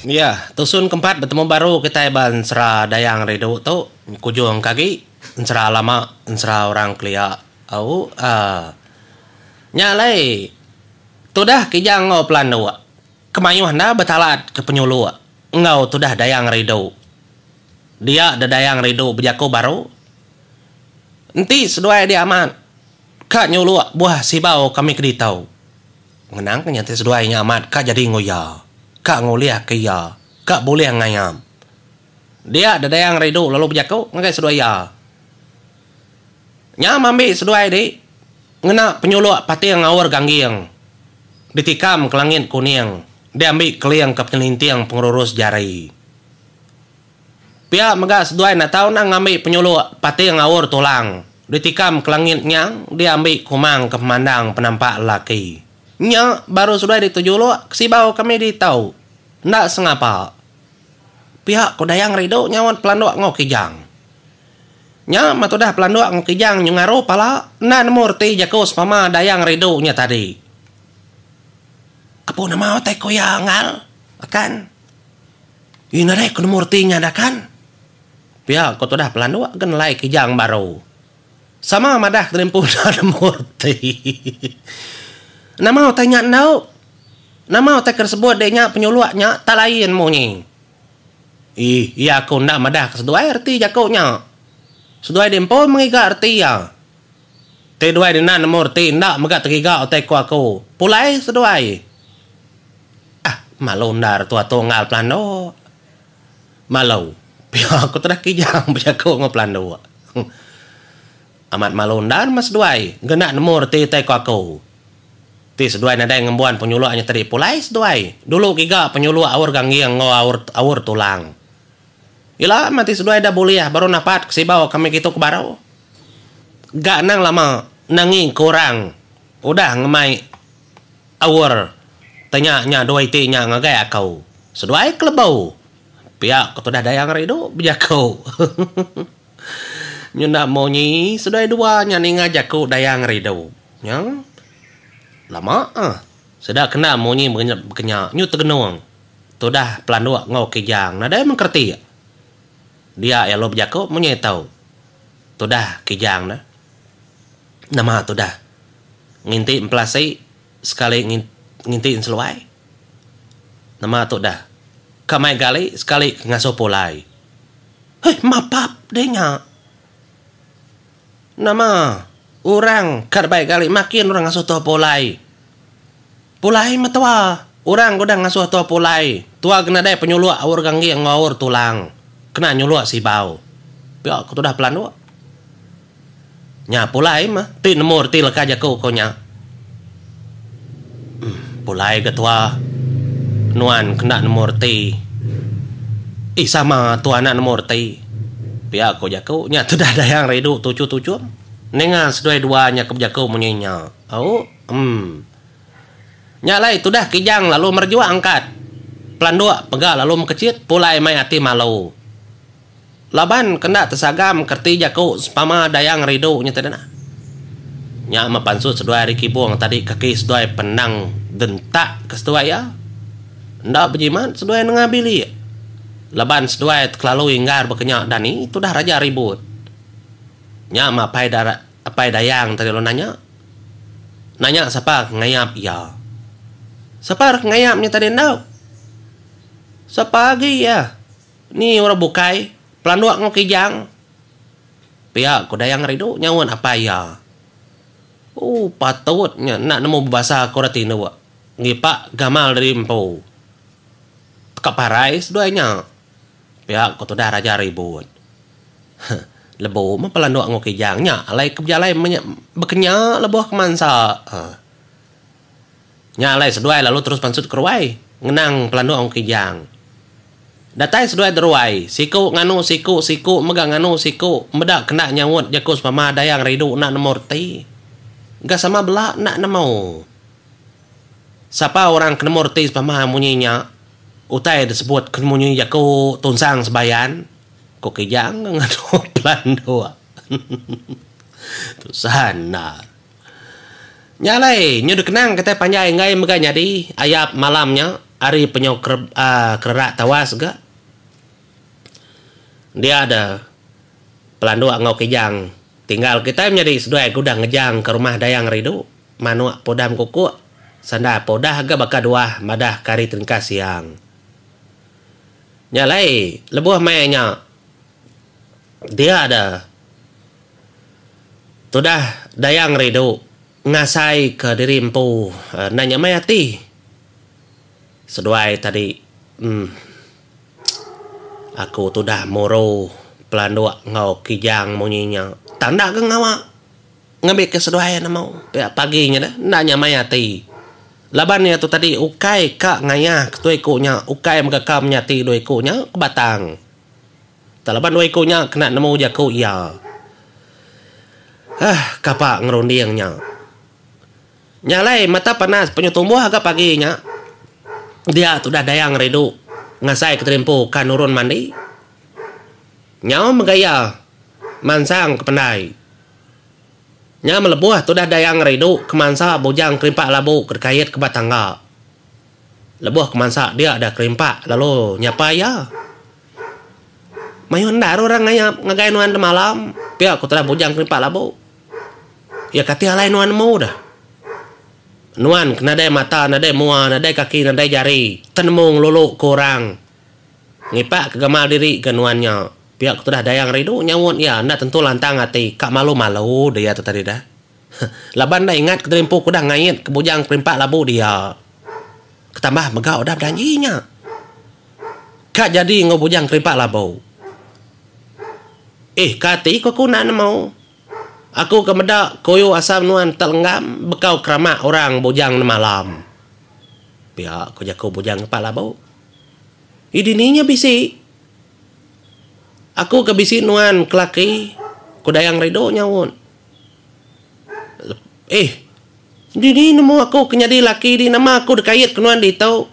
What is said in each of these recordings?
Iya, tusun kempat betemu baru kitai ba ensera Dayang Ridu tu nyekujung ke agi ensera lama ensera orang kelia au aa. Nya alai tudah Kijang enggau Pelanduk ke mayuh enda betalat ke penyuluk enggau tudah Dayang Ridu. Dia de Dayang Ridu bejaku baru enti seduai dia amat ka nyuluk buah sibau kami ke ditu. Ngenangka nya ti seduai nya amat ka jadi enggau iya, ka ngulihka iya ka bulih ngayam. Dia Dedayang Ridu lalu bejaku ngagai seduai iya, Nya mambi seduai di ngena penyuluk pating ngaur gangging ditikam ke langit kuning diambi keling ke penyelinting pengerurus jari. Pia mega seduai enda tau nah ngambi penyuluk pating ngaur tulang ditikam ke langit nyang diambi kumang ke pemandang penampak lelaki. Nya baru seduai ditujuluk ke sibau kami ditu. Enda sengapa pia ko Dayang Ridu nyaut Pelanduk enggau Kijang. Nya meh tudah Pelanduk enggau Kijang nyu ngaru pala enda nemu reti jaku sepama Dayang Ridu nya tadi. Apu nama utai ku iya Ngal? Akan. Ina deh ku nemu reti nyadakan. Pia ku tudah pelanduk ke nelai Kijang baru. Sama madah ke tadi empu enda nemu reti. Nama utai nya endu? Nama utai ke disebut dek nya penyuluk nya tak lain munyi. Ih, iya ku enda madah ke seduai reti jaku nya. Seduai di empu mengiga reti iya. Ti duai Nina nemu reti enda mega tegiga utai ku aku. Pulai seduai. Ah, malu endar tu atung ngaal pelanduk. Malu. Pia aku tedeh kijang bejaku enggau pelanduk. Amat malu endar meh seduai ngena nemu reti utai ku aku. Ti seduai nadai ngembuan penyuluk nyeteri pulai seduai. Dulu giga penyuluk aur gangging enggau aur aur tulang. Ila meh ti seduai dah bulih baru napat ke sibau kami kitu ke baru. Ga anang lama nangi ke orang udah ngemai aur te nya nya dua iti nya ngagai aku seduai ke lebu pia ku tudah dayang rindu bejaku hehehe nyenda munyi seduai dua nya ninga jaku dayang rindu nyang lama ah sida kena munyi ke nya nyu tegenung tudah pelanduk enggau kijang nadai mengkereti dia iya lu bejaku munyi tu. Tudah Kijang ne. Nama tudah nginti empelasi sekali nginti enseluai. Nama tudah ka mai gali sekali ke ngasuh pulai. Heh mapap deh nya. Nama orang ka dabai gali makin orang ngasuh tuah pulai. Pulai metua. Orang ke udah ngasuh tua pulai, tua ke nadai penyuluk aur ganggi enggau aur tulang, kena nyuluk sibau. Pia ke tudah pelanduk. Nya pulai meh, ti nemu reti leka jaku ko nya. Em, pulai ga tua. Nuan ke enda nemu reti. Ih, sama tua enda nemu reti. Pia ko jaku. Nya tudah Dayang Ridu tuchum-tuchum. Ninga seduai dua nya ke bejaku munyi nya. Au, em. Nya alai tudah kijang lalu merejua angkat pelanduk pega lalu mekechit pulai mai ati malu. Laban ke enda tesagam ke reti jaku sempama dayang ridu nya tadi nah. Nya meh pansut seduai ari kibung tadi kaki seduai penang dentak ke seduai iya. Enda bejimat seduai nengah bilik laban seduai tekelalu inggar baka nya dani tudah raja ribut. Nya meh apai da. Apai Dayang tadi lalu nanya. Nanya sapa ke ngayap iya. Sapa ra ke ngayap nya tadi enda. Sapa agi iya ni orang bukai pelanduk enggau kijang. Pia ku Dayang Ngerindu nyaut apai iya. Ooh patut nya enda nemu bebasa ke orang tinduk. Ngipak gamal diri empu. Teka parai seduai nya. Pia ko tudah raja ribut. Huh lebu meh pelandok enggau kijang nya alai ke bejalai meh nya bekenya lebuh kemansa huh. Nya alai seduai lalu terus pansut ke ruai ngenang pelandok enggau kijang. Datai seduai deruai, siku nganu siku siku mega nganu siku meda ke enda nyaut jaku semama dayang ridu enda nemu reti. Ga sama bela enda nemu. Sapa orang ke nemu reti semama munyi nya. Utai disebut ke nemu nyi jaku tunsang sebayan, ku Kijang ke ngadu pelan dua. Tusah endar. Nya alai, nyu dikenang kitai panjai enggai mega nyadi ayap malam nya ari penyau kererak tawas ga. Dia da Pelanduk enggau Kijang tinggal kitai menyadi seduai ke udah ngejangka rumah Dayang Ridu. Manuk pudam kukuk sandar pa udah ga baka duah madah ke hari teringkas siang. Nya alai lebuh maya nya dia da tudah dayang rindu ngasai ke diri empu enda nyamai ati seduai tadi uhh aku tudah muru pelanduk enggau kijang munyi nya tang enda ga ngawa. Ngambika seduai nemu pia pagi nya dah enda nyamai ati laban iya tu tadi ukai ka ngayah ke dua iku nya ukai mega ka menyati dua iku nya ke batang tau laban dua iku nya kena nemu jaku iya aah kapa ngerunding nya. Nya alai mata panas penyu tumbuh ga pagi nya dia tu dah dayang ridu ngasai keterimpu ka nurun mandi nyau mega iya mansang ke pendai. Nya melebuh tudah Dayang Rindu kemansa Bujang Kerimpak Labu ke dikait ke ba tangga. Lebuh kemansa dia da Kerimpak lalu nyapai iya. Mayuh enda ira orang ngayap ngagai nuan da malam, pia ku tudah Bujang Kerimpak Labu. Iya kati alai nuan nemu deh. Nuan ke nadai mata, nadai mua, nadai kaki, nadai jari, tenemu ngelulu ke orang. Ngipak ke gamal diri ke nuan nya. Pia ku tudah Dayang rindu nyaut iya enda tentu lantang ati ka malu malu dia tu tadi dah. Laban enda ingat ke tadi empu ku dah ngait ke bujang perimpak labu dia. Ketambah mega udah bejanji nya ka jadi enggau bujang kerimpak labu. Ih ka ati ku aku enda nemu. Aku ke meda kuyu asam nuan tak lenggam bekau keramak orang bujang nemalam. Pia ku jaku bujang kerimpak labu. Idi ni nya bisi. Aku ke bisi nuan ke laki ku Dayang Redo nyaut. Eeh. Dini nemu aku ke nyadi laki di nama aku dikait ke nuan ditu.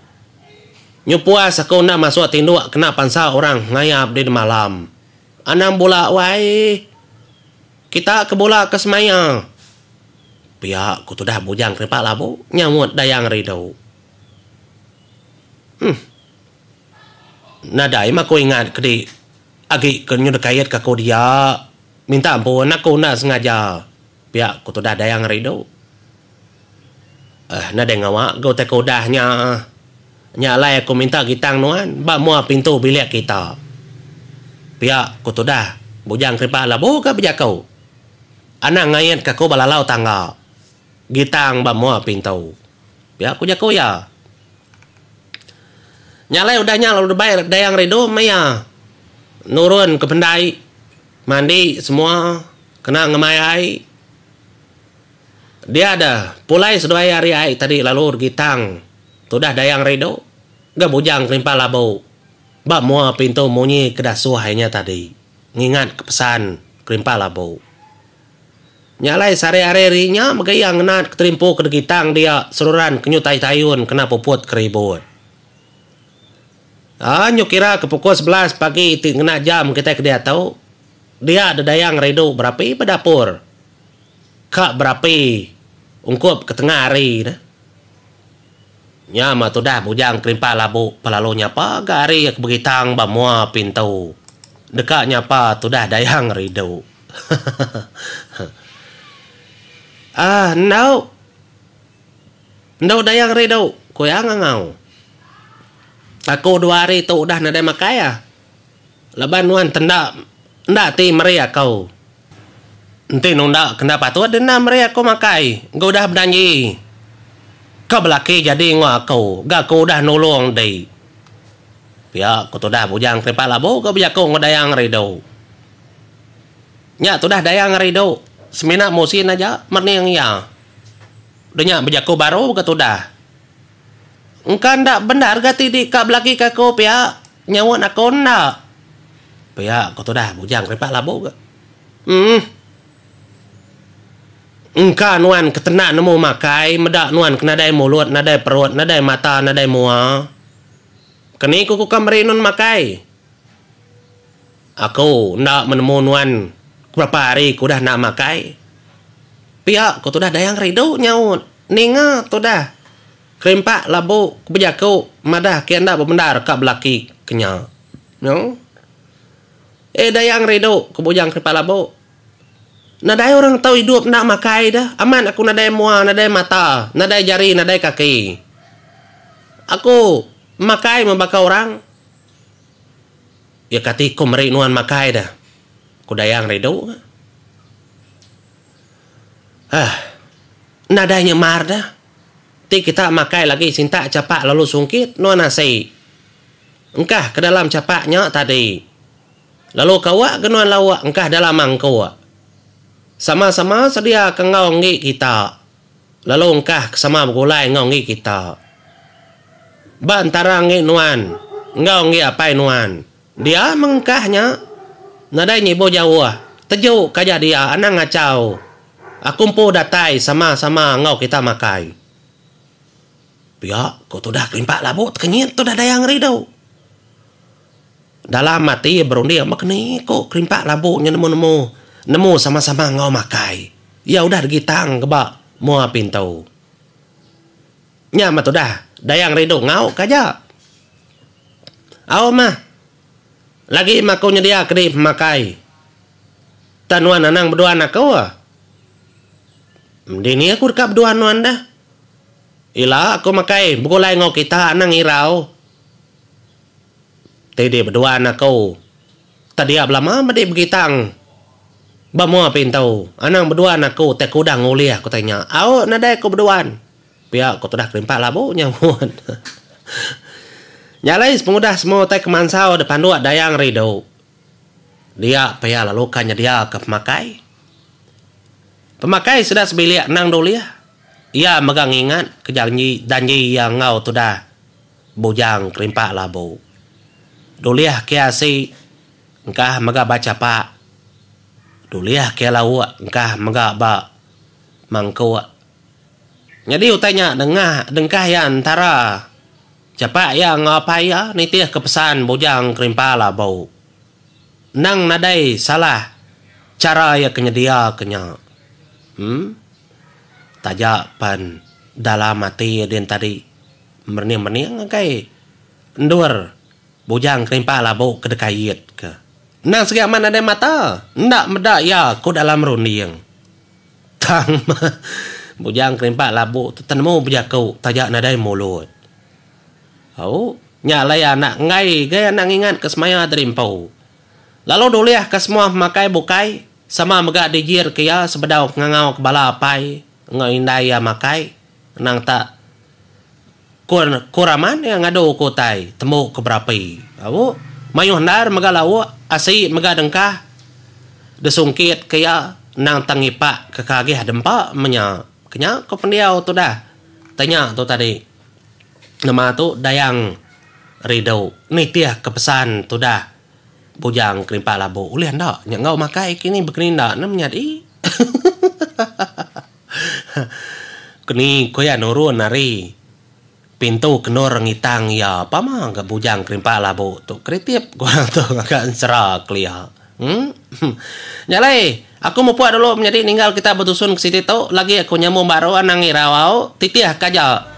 Nyu puas aku enda masuk tinduk kena pansa orang ngayap di nemalam. Anang bula wai eeh. Kita ke bula ke semaya. Pia ku tudah bujang ke repa labu, nyaut Dayang Redo. Uhm. Nadai meh aku ingat kedi agi ke nyudah kait ke aku dia. Minta ampun aku enda sengaja pia ku tudah dayang ari tu. Uhm nadai ngawa ke utai ke udah nya. Nya alai aku minta gitang nuan ba mua pintu bilik kita. Pia ku tudah Bujang Keripak labuka bejaku. Anang ngait ke aku ba lalau tangga. Gitang ba mua pintu. Pia ku jaku iya. Nya alai udah nya lalu debai Dayang Rindu meh iya nurun ke pendai mandi semua kena ngemai ai. Dia deh pulai seduai ari ai tadi lalu Gitang tudah Dayang Rindu ga bujang kelimpah labu ba mua pintu munyi ke dah suah inya tadi ngingatka pesan kelimpah labu. Nya alai sehari hari ri nya mega iya ngenat keterimpu ke degitang dia seruran ke nyutai tayun kena puput ke ribut. Aa nyu kira ke pukul sebelas pagi iti ngena jam kitai ke diatu dia dedayang ridu berapi ba dapur ka berapi ungkup ke tengah hari ne. Nya mah tudah bujang kelimpah labu pa lalu nyapa ga ari iya ke begitang ba mua pintu deka nyapa tudah dayang ridu. Aah endauk. Endauk dayang ri dauk, ku iya ngangau. Aku dua hari tu udah nadai makai ah. Laban nuan tenda enda ti meri aku. Enti nunda ke enda patut deh enda meri aku makai. Engka udah bejanji ke belaki jadi enggau aku ga aku udah nulung deh. Pia ku tudah bujang Keripat Labu ke bejaku enggau dayang ri dauk. Nya tudah Dayang ari du semina musin aja mening iya. De nya bejaku baru ke tudah. Engka enda bendar ga ti dika belagi ke aku pia nyaunt aku enda. Pia ku tudah Bujang Keripak Labu ga. Emm. Engka nuan ketena nemu makai meda nuan ke nadai mulut nadai perut nadai mata nadai mua. Keni ku ku ka meri nun makai. Aku enda menemu nuan ke berapa hari ke udah enda makai. Pia ku tudah Dayang kerindu nyaut ninga tudah kerimpak labu ke bejaku madah ke enda bebendar ka belaki ke nya. Noo. Eh Dayang kerindu ku bujang kerimpak labu. Nadai orang tau idup enda makai da. Amat aku nadai mua, nadai mata, nadai jari, nadai kaki. Aku makai meh baka orang. Iya kati iku meri nuan makai da? Ku Dayang ridu ga. Hah. Nadai nya mar da. Ti kita makai lagi sintak chapak lalu sungkit nuan asi. Engkah ke dalam chapak nya tadi. Lalu ka awak ga nuan lauk engkah dalam mangkuk. Sama-sama sedia ka enggau enggi kita. Lalu engkah ke sama begulai enggau enggi kita. Ba entara enggi nuan enggau enggi apai nuan, dia meng engkah nya. Nadai nyibu jauh, teju ke aja dia anang ngachau. Aku empu datai sama-sama enggau kita makai. Pia, ku tudah kelimpak labu tekenyit tu nadai angeridu. Dalam ati iya berunding meh keni ku kerimpak labu nya nemu-nemu nemu sama-sama enggau makai. Iya udah digitang keba mua pintu. Nya meh tudah Dayang rindu ngau ka aja. Au mah. Lagi meh aku nyedia kedi pemakai. Tah nuan anang beduan aku. Dini aku deka beduan nuan dah. Ila aku makai begulai enggau kita anang irau. Ti di beduan aku tak dia belama medi begitang. Ba mua pintu, anang beduan aku tai kudang ulih ku tanya. Au nadai ku beduan. Pia ku tudah kerimpat labu nyahut. Nyalai sepengudah semua utai ke mansau da panduk Dayang Ridu. Dia pia lalu ka nyedia ka pemakai. Pemakai sida sebilik anang dulih. Iya mega ngingat ke janji danji iya enggau tudah. Bujang kerimpak labu. Dulih ke asi engkah mega ba chapak. Dulih ke lauk engkah mega ba mangkuk. Nyadi utai nya dengah dengkah iya entara chapak iya enggau apai iya nitihka pesan bujang kerimpak labu. Endang nadai salah chara iya ke nyediaka nya. Em. Taja pen dalam ati iya din tadi. merening-mening engkai endur Bujang Kerimpah labu ke dekait ke. Endang segi amat nadai mata, enda meda iya ku dalam runding. Tang meh, Bujang Kerimpah labu tu tenemu bejaku taja nadai mulut. Au, nya alai anak enggai gai anak ngingat ke semaya tadi empu. Lalu dulih ke semua pemakai bukai sama mega dijir ke iya sebedau ke ngangau ke bala apai enggau indai iya makai, endang tak. Ko ko raman iya ngadu ko utai tembu ke berapi au mayuh endar mega lauk asi mega dengkah disungkit ke iya endang tang ngipak ke kagih dempa menya kenya ko pendiau tudah tei nya tu tadi nama tu dayang ridu nitih ke pesan tudah bujang kerimpa labu ulih enda nya enggau makai kini bekeni enda nyadi. Keni ko iya nurun ari pintu kendur ngitang iya pama ga bujang kerimpak labu tu keritip ko orang tu ngaga ensera kelia. Emm nya alai aku mupuk dulu menyadi ninggal kita betusun ke siti tu lagi aku nyambung baru anang irau au titih ka aja.